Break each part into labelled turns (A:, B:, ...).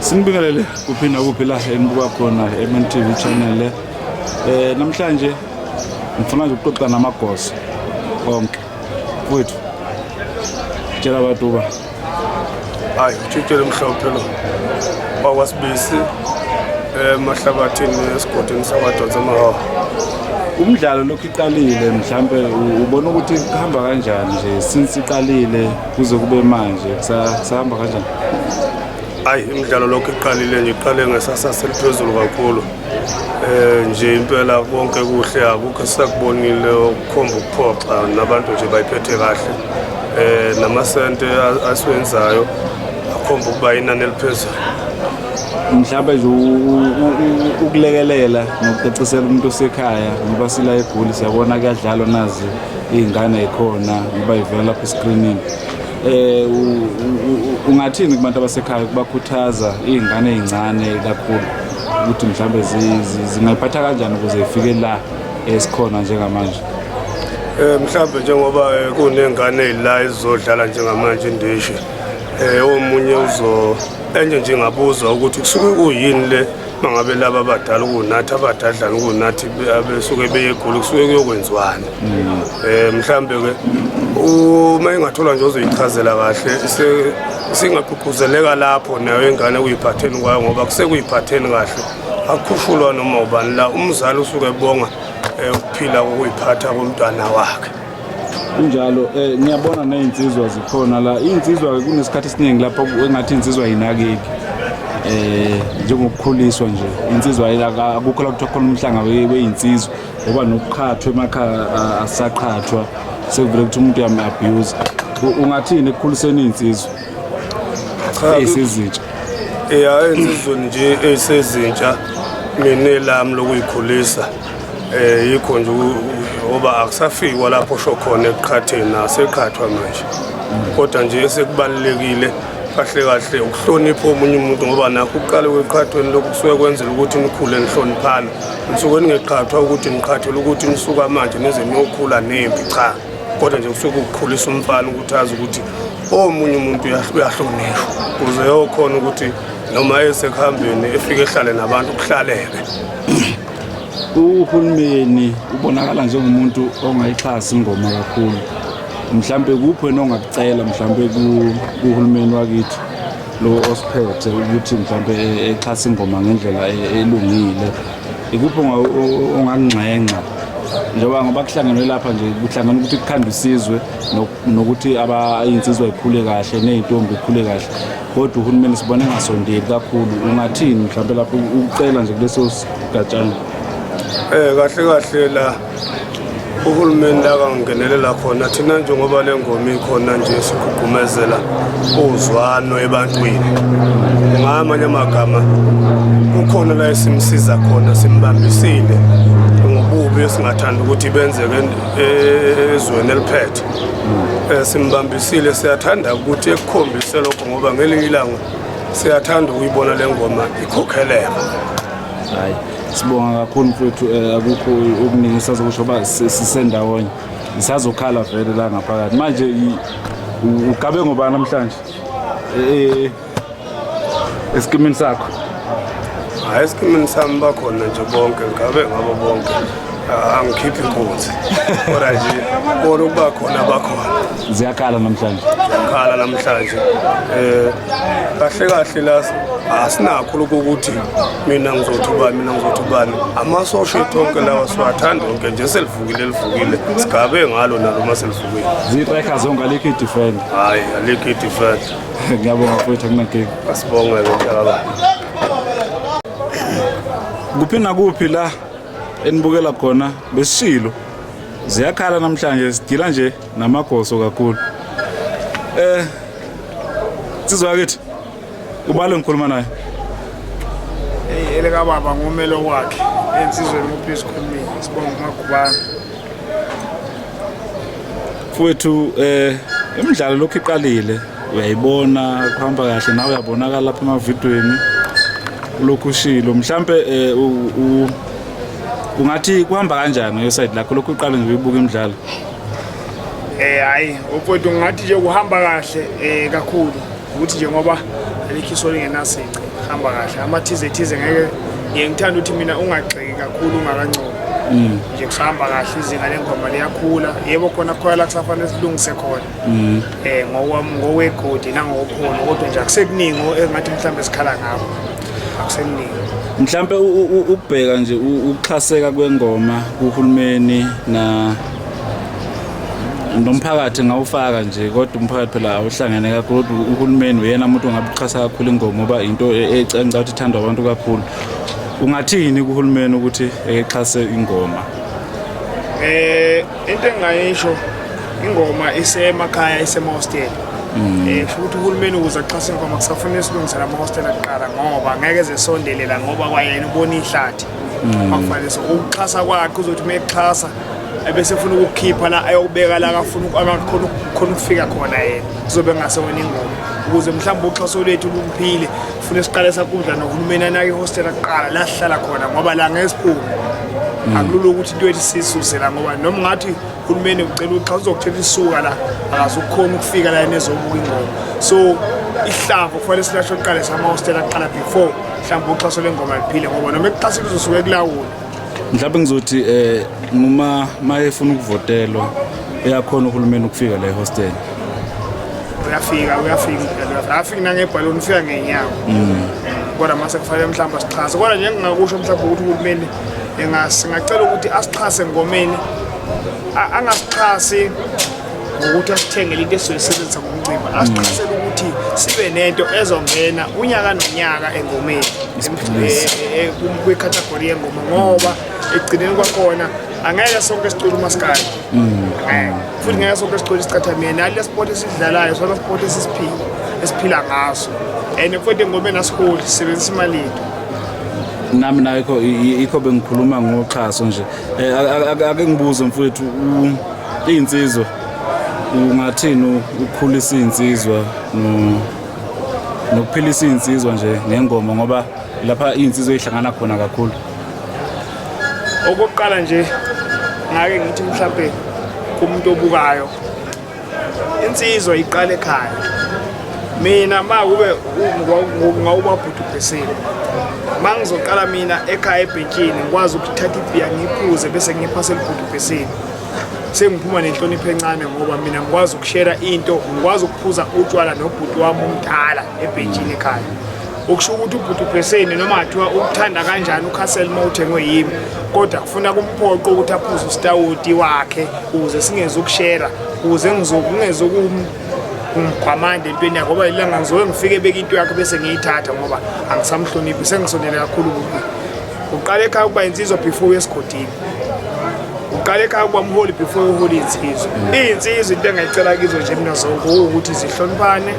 A: sinibingelele kuphi nakuphi la enibuka khona eMNTV channel eh namhlanje ngifuna nje ukuxoxa namagosa onke mfowethu tshela abantu uba
B: hayi utshitshele mhlophe lo wakwasibisi emahlabathini eh, esigodini sakwadonsa amahawa umdlalo
A: lokhu iqalile mhlampe ubona ukuthi kuhamba kanjani nje since iqalile kuze kube manje kusahamba kanjani
B: hayi imidlalo lokhu iqalile nje iqale ngesasasa eliphezulu kakhulu Eh nje impela konke kuhle akukho sakubonile ukukhomba ukuphoxa nabantu nje bayiphethe kahle. Eh namasente asiwenzayo akhomba ukuba inani eliphezulu.
A: mhlawumbe nje ukulekelela nokucacisela umuntu osekhaya ngoba sila egoli siyabona kuyadlalwa nazi iy'ngane yikhona ngoba ivela lapha esikrinini Eh ungathini kubantu abasekhaya kubakhuthaza izingane ezincane kakhulu ukuthi mhlambe zingayiphatha kanjani ukuze ifike la esikhona njengamanje? Eh
B: mhlambe njengoba eh, kunengane ezila ezodlala njengamanje indishi eh omunye uzo enye nje ngabuza ukuthi kusuke kuyini le mangabe laba abadala kunathi abadadlana kunathi abesuke beye egoli kusuke kuyokwenziwani um eh, mhlawumbe ke uma ingathola nje ozoyichazela kahle singagqugquzeleka lapho nayo ingane kuyiphatheni kwayo ngoba kusekuyiphatheni kahle akukhushulwa noma ubani la umzali usuke ebonga um ukuphila kokuyiphatha komntwana wakhe kunjalo
A: eh ngiyabona nezinsizwa zikhona la izinsizwa kunesikhathi esiningi lapho engathi insizwa yinakeki eh njengokukhuliswa nje insizwa akukho la kuthiwa khona umhlanga weyinsizwa ngoba nokuqhathwa emakhaya asaqhathwa sekuvele ukuthi umuntu yami abuse ungathini ekukhuliseni izinsizwa esezintsha eh, ya insizweni
B: nje esezintsha mina lami lokuyikhulisa Eh yikho nje ngoba akusafikwa lapho sho khona eqhatheni aseqhathwa manje. Kodwa nje esekubalekile kahle kahle ukuhlonipha omunye umuntu ngoba nakho uqale kweqhathweni lokhu kusuke kwenzela ukuthi nikhule nihloniphana. Nisuke ningeqhathwa ukuthi niqhathele ukuthi nisuka manje nize niyokhula nempi cha. Kodwa nje kusuke ukukhulisa umfana ukuthi azi ukuthi omunye umuntu uyahlonishwa kuze yokhona ukuthi noma esekuhambeni efike ehlale nabantu kuhlaleke
A: uhulumeni ubonakala njengomuntu ongayixhasi ingoma kakhulu mhlawumbe kuphi wena ongakucela mhlawumbe kuhulumeni wakithi lo osiphethe ukuthi mhlawumbe exhase ingoma ngendlela e-, elungile ikuphi ongakunxenxa njengoba ngoba kuhlangenwe lapha nje kuhlangana ukuthi kukhandwe isizwe nokuthi abayinsizwa ikhule kahle ney'ntombi ikhule kahle kodwa uhulumeni sibona engasondeli kakhulu ungathini mhlawumbe lapho ukucela nje kuleso sigatshana um
B: kahle kahle la uhulumeni la kangenelela khona thina njengoba le ngoma ikhona nje sigqugqumezela uzwano ebantwini ngamanye amagama kukhona la esimsiza khona simbambisile ngobubi esingathanda ukuthi benzeke e-, ezweni eliphethe Eh, simbambisile siyathanda ukuthi ekukhombise lokho ngoba ngelinye ilanga siyathanda ukuyibona le ngoma ikhokheleka
A: hayi sibonga kakhulu mfethu eh, akukho okuningi sazokusho uba sisendawonye ngisazokhala vele la ngaphakathi manje ugabe ngobani namhlanje eh, eh, esikimini sakho
B: hayi esikimini sami bakhona
A: nje
B: bonke ngabe ngabo bonke ah, angikhiphi inkunzi kodwa nje kona ukuba khona bakhona ziyakhala namhlanje
A: ziyakhala namhlanje
B: um kahle kahle la asinakho lokho ukuthi mina ngizothi ubani mina ngizothi ubani amasosha ethu onke lawa siwathanda onke nje selivukile elivukile sigabe ngalo nalo uma selivukile ziyitrekha zonke
A: alikho i-defend hhayi alikho
B: i-defend ngiyabonga mfowethu
A: akunankinga asibonge mthalala kuphi nakuphi la enibukela khona besishilo ziyakhala namhlanje sidila nje namagoso kakhulu eh sizwa kithi ubalo ngikhuluma naye eleka
C: baba ngumelo wakhe ensizweni uphis khulumile sibonga umagubana
A: Mfowethu eh imidlalo lokhu iqalile uyayibona kuhamba kahle nawe uyabonakala lapha emavidweni lokhu ushilo mhlambe eh, ungathi kuhamba kanjani ngeside lakho lokhu uqale nje uyibuka imidlalo eh hayi
C: mfowethu ngathi nje kuhamba kahle eh kakhulu ukuthi nje ngoba alikho isoli ngenasici hamba kahle amathize thize ngeke ngiye ngithanda ukuthi mina ungagxeki kakhulu ungakancobi mm. nje kusahamba kahle izinga lengoma liyakhula yebo khona khona la kusafanele silungise khona um mm. eh, ngokwegodi nangokhona kodwa nje akusekuningi engathi mhlawumbe sikhala ngakho akusekuningi mhlawumbe
A: ukubheka nje ukuxhaseka kwengoma kuhulumeni na nomphakathi ngawufaka nje kodwa umphakathi phela awuhlangene kakhulu kodwa uhulumeni uyena umuntu ongabuxhasa kakhulu ingoma ngoba into e-, ecanca ukuthi ithandwa abantu kakhulu ungathini kuhulumeni ukuthi exhase ingoma eh
C: into engayisho ingoma isemakhaya isemahostela mm. eh futhi uhulumeni ukuze axhase ingoma kusafanele silungisela amahostela kuqala ngoba ngeke zesondelela ngoba kwayena ubona ihlathi mm. akufanele so ukuxhasa kwakhe uzothi uma exhasa ebese funa ukukhipha la ayokubeka la akafuna akakhona khona ukufika khona yena kuzobe ngase wena ingoma ukuze mhlawumbe uxhaso lwethu lukuphile funa siqale sakudla nohulumeni anake ihostela kuqala la sihlala khona ngoba la ngesiphume hmm. akulula ukuthi into ethi sisuse la ngoba noma ngathi uhulumeni ucela uxa uzokuthetha isuka la akazukukhona ukufika la yena ezobuka ingoma so ihlavu kufanele silasho kuqala samahostela kuqala before mhlawumbe uxhaso lengoma liphile ngoba noma ekuxhasile uzosuke kulawula mhlawumbe ngizothi
A: eh noma mayefuna ukuvotelwa eyakhona uhulumeni ukufika la ehostel uyafika uyafika
C: impela afika nangebhaloni ufika ngenyawo mm. kodwa mase kufanele mhlawumbe asixhase kodwa nje ngingakusho mhlawumbe ukuthi uhulumeni engasi ngacela ukuthi asixhase ngomeni angasixhasi ngokuthi asithengele into esizoyisebenzisa ngomcimbi asiqasele ukuthi sibe nento ezongena unyaka nonyaka engomeni eh, eh, kwikhathagori yengoma ngoba ekugcineni kwakhona angeke sonke sicula umaskali mm. futhi ngeke sonke sicula isicathamia nali lesport esidlalayo sona sport esisiphila esiphila ngaso and futhi engomeni asiholi sisebenzisa imali yethu nami
A: nayo ikho bengikhuluma ngoxhaso nje eh, ake ngibuze mfowethu Izinsizwa ungathini ukukhulisa izinsizwa nokuphilisa izinsizwa nje ngengoma ngoba lapha izinsizwa ezihlangana khona kakhulu. Okokuqala
C: nje ngake ngithi mhlambe kumuntu obukayo insizwa iqale ekhaya mina ma kube ngawubabhuti ubhesile ma ngizoqala mina ekhaya ebhentshini ngikwazi ukuthatha ibhiya ngiphuze bese ngiphase libhuti ubhesile sengiphuma nenhlonipho encane ngoba mina ngikwazi ukushera into ngikwazi ukuphuza utshwala nobhuti wami omdala ebhentshini ekhaya okusho ukuthi ubhuti ubheseni noma kuthiwa ukuthanda kanjani ukhasel uma uthengwe yimi kodwa kufuna kumphoqo ukuthi aphuze usitawoti wakhe ukuze singeze ukushera ukuze ngizokungeze ngimgwamande entweni yakhe ngoba ilanga ngizoke ngifike beke into yakhe bese ngiyithatha ngoba angisamhloniphi sengisondele kakhulu kubi uqale ekhaya ukuba insizwa before esigodini uqale ekhaya ukuba umholi before uholi insizwa iyinsizwa into engayicela kizo nje mina zonke ukuthi zihloniphane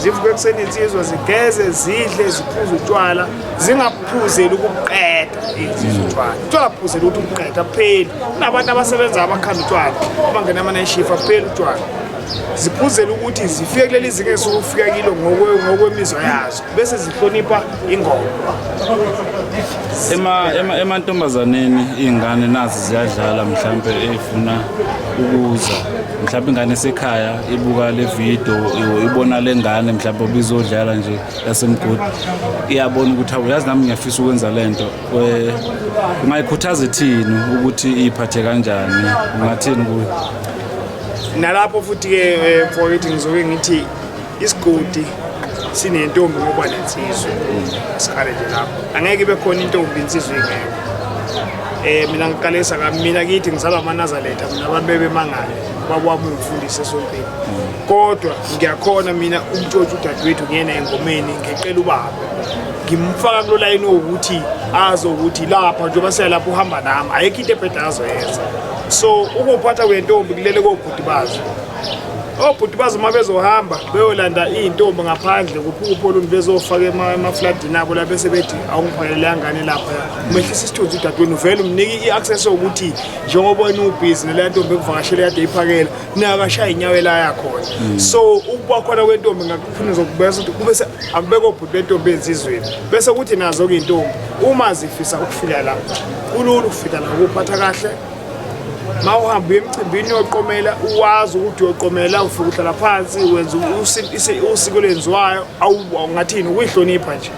C: zivuke ekuseni insizwa zigeze zidle ziphuze utshwala zingaphuzeli ukuqeda insizwa utshwala utshwala phuzela ukuthi ubuqeda kupheli kunabantu abasebenza abakhanda utshwala abangena amanayishifu apheli utshwala ziphuzela ukuthi zifike kuleli zinga esukufika kilo ngokwemizwa yazo bese zihlonipha ingoma
A: emantombazaneni ema, ema iy'ngane nazi ziyadlala mhlawumpe ey'funa ukuza mhlawumpe ingane esekhaya ibuka le video ibona le ngane mhlawumpe obizodlala nje yasemgodi iyabona ukuthi awu yazi nami ngiyafisa ukwenza le nto ungayikhuthaza ithini ukuthi iyiphathe kanjani ungathini kuyo
C: nalapho futhi-ke um eh, mfowethu ngizoke ngithi isigodi sinentombi ngoba nensizwe sikhale nje lapho angeke ibe khona intombi insizwe ingekho eh mina ngiqalisa ka mina kithi ngizalwa amanazaletha mina abantu bebemangale babwami umfundisi esontweni kodwa ngiyakhona mina umtshotshi udadewethu ngiyena engomeni ngicela ubaba ngimfaka kulo layini wokuthi azi ukuthi lapha njengoba siyalapha uhamba nami ayikho into ebheda azoyenza so ukuphatha kwentombi kulele kobhuti bazo obhuti bazo uma bezohamba beyolanda iy'ntombi ngaphandle kuphukuphi oluntu bezofaka emafladini abo la bese bethi awungiphakelele yangane lapha umehlisa isithunzi udadweni uvele umnike i-access yokuthi njengoba wena ubhizi neleya ntombi ekuvakashele yade iphakela nakashaya inyawo elaya khona hmm. so ukuba khona kwentombi ngakufuna zokubesa ukuthi kube akubekwa obhuti bentombi enzizweni bese kuthi nazo-ke iy'ntombi uma zifisa ukufika la kulula ukufika la kuphatha kahle ma uhamba uye emcimbini yoqomela uwazi ukuthi uyoqomela ufika uhlala phansi wenza usiko lenziwayo awungathini ukuyihlonipha nje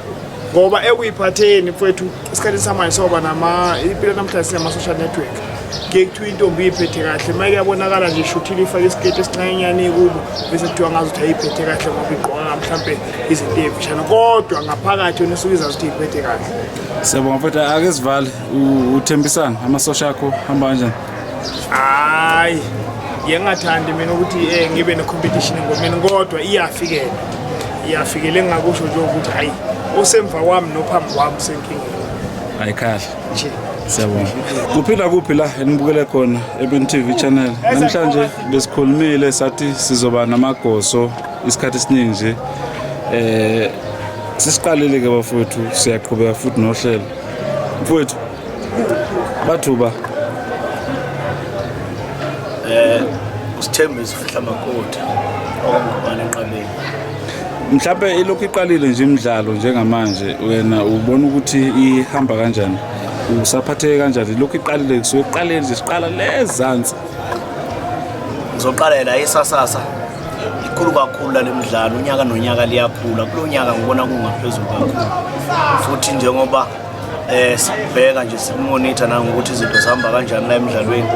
C: ngoba ekuyiphatheni mfethu esikhathini samanje soba nama impilo namhlanje sinama-social network kuye kuthiwa intombi iyiphethe kahle ma kuyabonakala nje ishuthile ifake isiketi esincanyenyane kubo bese kuthiwa ngazi ukuthi ayiyiphethe kahle ngoba igqokanga mhlawumbe izinto eyimfishane kodwa ngaphakathi yona esuke izazi ukuthi iyiphethe kahle siyabonga mfethu
A: ake sivale uthembisani amasosha akho hamba kanjani hayi
C: yengathandi mina ukuthi um ngibe ne-competition engomeni kodwa iyafikela iyafikela engingakusho nje ukuthi hhayi osemva kwami nophambi kwami usenkingeni hayi kahle
A: nje siyabonga kuphi la kuphi la enibukele khona ebn t v channel namhlanje besikhulumile sathi sizoba namagoso isikhathi esiningi nje um sisiqalile-ke bafowethu siyaqhubeka futhi nohlelo mfowethu bathuba
D: eh usithembe sifihla makoti okungubani enqabeni mhlawumbe
A: ilokhu iqalile nje imidlalo njengamanje wena ubona ukuthi ihamba kanjani usaphatheke kanjani lokhu iqalile kusuke kuqaleni nje siqala lezansi
D: ngizoqalela isasasa ikhulu kakhulu lale mdlalo unyaka nonyaka liyakhula kulo nyaka ngibona kungaphezulu kakhulu futhi njengoba um sikubheka nje sikumonitha nangokuthi izinto zihamba kanjani la emdlalweni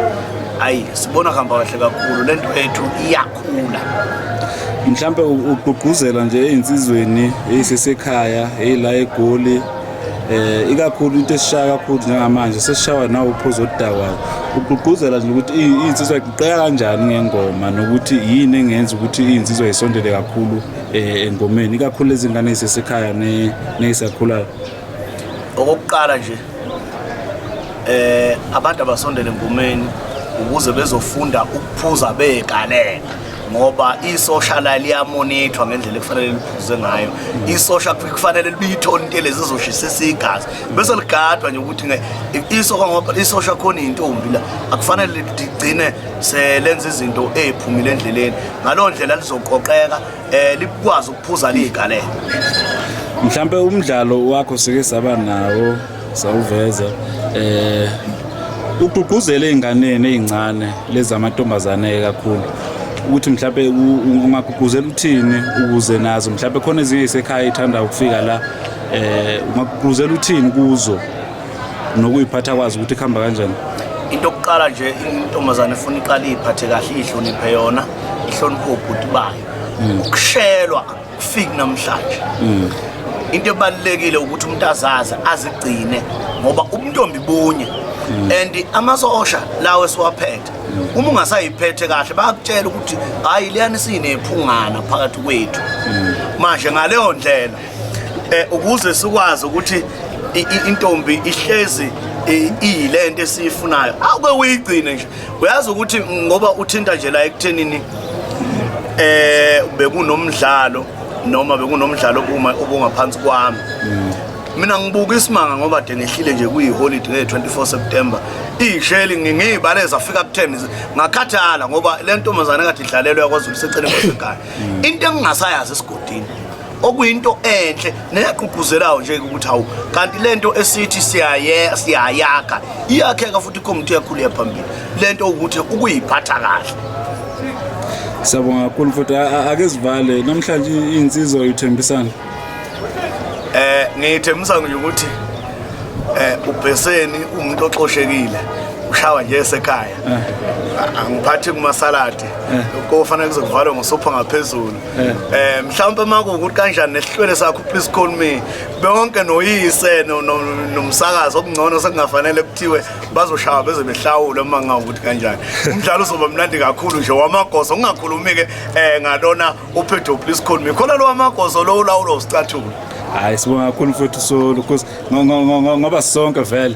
D: ayi sibona kuhamba kahle kakhulu le nto yethu iyakhula
A: mhlawumpe ugqugquzela nje ezinsizweni ezisesekhaya eyila egoli eh ikakhulu into esishaya kakhulu njengamanje sesishawa nawo uphuzo oludakwayo ugqugquzela nje ukuthi insizwa iqeya kanjani ngengoma nokuthi yini engenza ukuthi insizwa isondele kakhulu eh, engomeni ikakhulu lezingane ezisekhaya nezisakhulayo
D: okokuqala nje eh abantu abasondele engomeni ukuze bezofunda ukuphuza begalela ngoba isosha la liyamonithwa ngendlela ekufanele liphuze ngayo isosha kufanele libiyithole into elezi izoshisisa igazi bese ligadwa nje ukuthi isosha ngoba isosha khona intombi la akufanele ligcine selenza izinto eziphumile endleleni ngalo ndlela lizoqoqeka eh likwazi ukuphuza ligalele
A: mhlambe umdlalo wakho sike saba nawo sawuveza eh ugqugquzele izinganeni ezincane lezi amantombazane kakhulu ukuthi mhlawumbe ungagqugquzela uthini ukuze nazo mhlawumbe khona ezinye isekhaya ithanda ukufika la eh ungagqugquzela uthini kuzo nokuyiphatha kwazi ukuthi kuhamba kanjani into yokuqala
D: nje intombazane ifuna iqale iphathe kahle ihloniphe yona ihloniphe ubhuti bayo hmm. ukushelwa kufiki namhlanje mm. into ebalulekile ukuthi umuntu azazi azigcine ngoba ubuntombi bunye mm. and amasosha lawo esiwaphethe mm. uma ungasayiphethe kahle bayakutshela ukuthi hhayi liyani siyinephungana phakathi kwethu manje ngaleyo ndlela um ukuze sikwazi ukuthi intombi ihlezi iyilento esiyifunayo awuke uyigcine nje uyazi ukuthi ngoba uthinta nje la ekuthenini eh bekunomdlalo noma bekunomdlalo kuma obungaphansi kwami mina ngibuka isimanga ngoba de ngehlile nje kuyiholide nge-24 september iyisheli ngiyibale zafika ku-10 ngakhathala ngoba le ntombazane kade idlalelwa yakwazulu seceleni kwasekhaya into engingasayazi esigodini okuyinto enhle neyagqugquzelayo nje ukuthi hawu kanti lento esithi siyaye siyayakha iyakheka futhi ikomiti yakhulu yaphambili lento ukuthi ukuyiphatha kahle
A: Siyabonga kakhulu futhi ake sivale namhlanje insizwa uthembisana Eh
D: ngithembisa nje ukuthi eh ubheseni umuntu oxoshekile ushawa nje esekhaya eh. angiphathi kumasaladi eh. kofanele kuzokuvalwa ngosopha ngaphezulu eh mhlawumbe uma kuwukuthi kanjani nesihlwele sakho please call me bonke noyise nomsakazi okungcono sekungafanele kuthiwe bazoshaya beze behlawule uma ngawukuthi kanjani umdlalo uzoba mnandi kakhulu nje wamagoso ungakhulumi-ke um ngalona uphetho please call me khona lo wamagoso lo ulawulo usicathulo hayi sibonga
A: kakhulu mfowethu solo because ngoba sonke vele